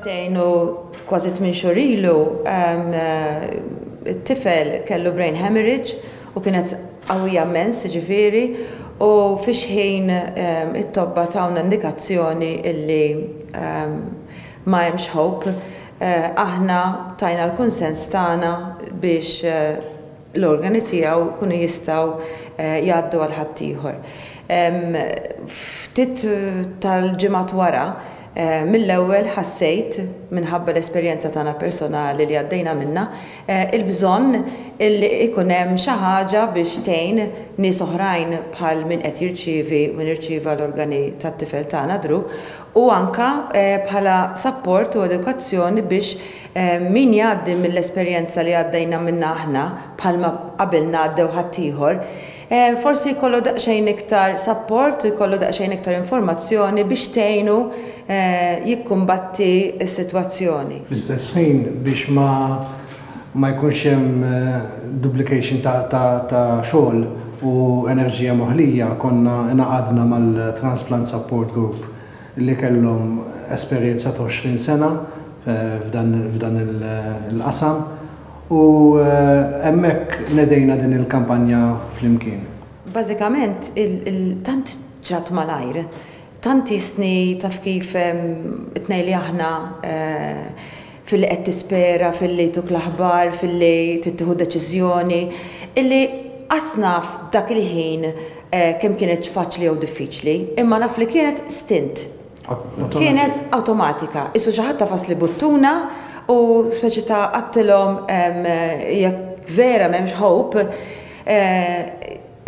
Sentejn u kważi tmien xhur ilu it-tifel kellu brain hemorrhage u kienet qawwija immens ġifieri u fiex ħin it-tobba tawna indikazzjoni illi ma hemmx hope aħna tajna l-kunsens tagħna biex l-organi tiegħu jkunu jistgħu jgħaddu għal ħaddieħor. Ftit tal-ġimgħat wara, mill-ewwel ħassejt, minħabba l-esperjenza tagħna personali li għaddejna minnha, il-bżonn li jkun hemm xi ħaġa biex tgħin nies oħrajn bħal min qed jirċievi, min irċieva l-organi tat-tifel tagħna Drew, u anke bħala sapport u edukazzjoni biex Min jgħaddi mill-esperjenza li għaddejna minnha aħna, bħalma qabilna għaddew ħaddieħor, forsi jkollu daqsxejn iktar sapport u jkollu daqsxejn iktar informazzjoni biex tgħinu jikkumbatti s-sitwazzjoni. Fl-istess ħin, biex ma jkunx hemm duplication ta' xogħol u enerġija moħlija, konna ngħaqadna mal-Transplant Support Group. li kellhom esperjenza ta' 20 sena f'dan il-qasam u hemmhekk nedejna din il-kampanja flimkien. Bażikament tant ġrat malajr, tant qisni taf kif it-tnejn li aħna, filli qed tispera, filli jtuk l-aħbar, filli tittieħu deċiżjoni, illi qas naf dak il-ħin kemm kienetx faċli jew diffiċli, imma naf li kienet stint. Kienet awtomatika, qisu xi ħadd għafas li buttuna u speċi ta' għadtilhom jekk vera m'hemmx hope,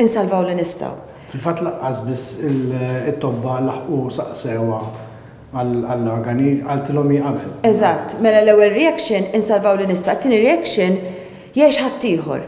Insalvaw li nistgħu. Fil-fatt lanqas biss it-tobba laħqu saqsewha għall-organi, qaltilhom hi qabel. Eżatt, mela l-ewwel reaction insalvaw li nistgħu, it-tieni reaction jgħix ħaddieħor.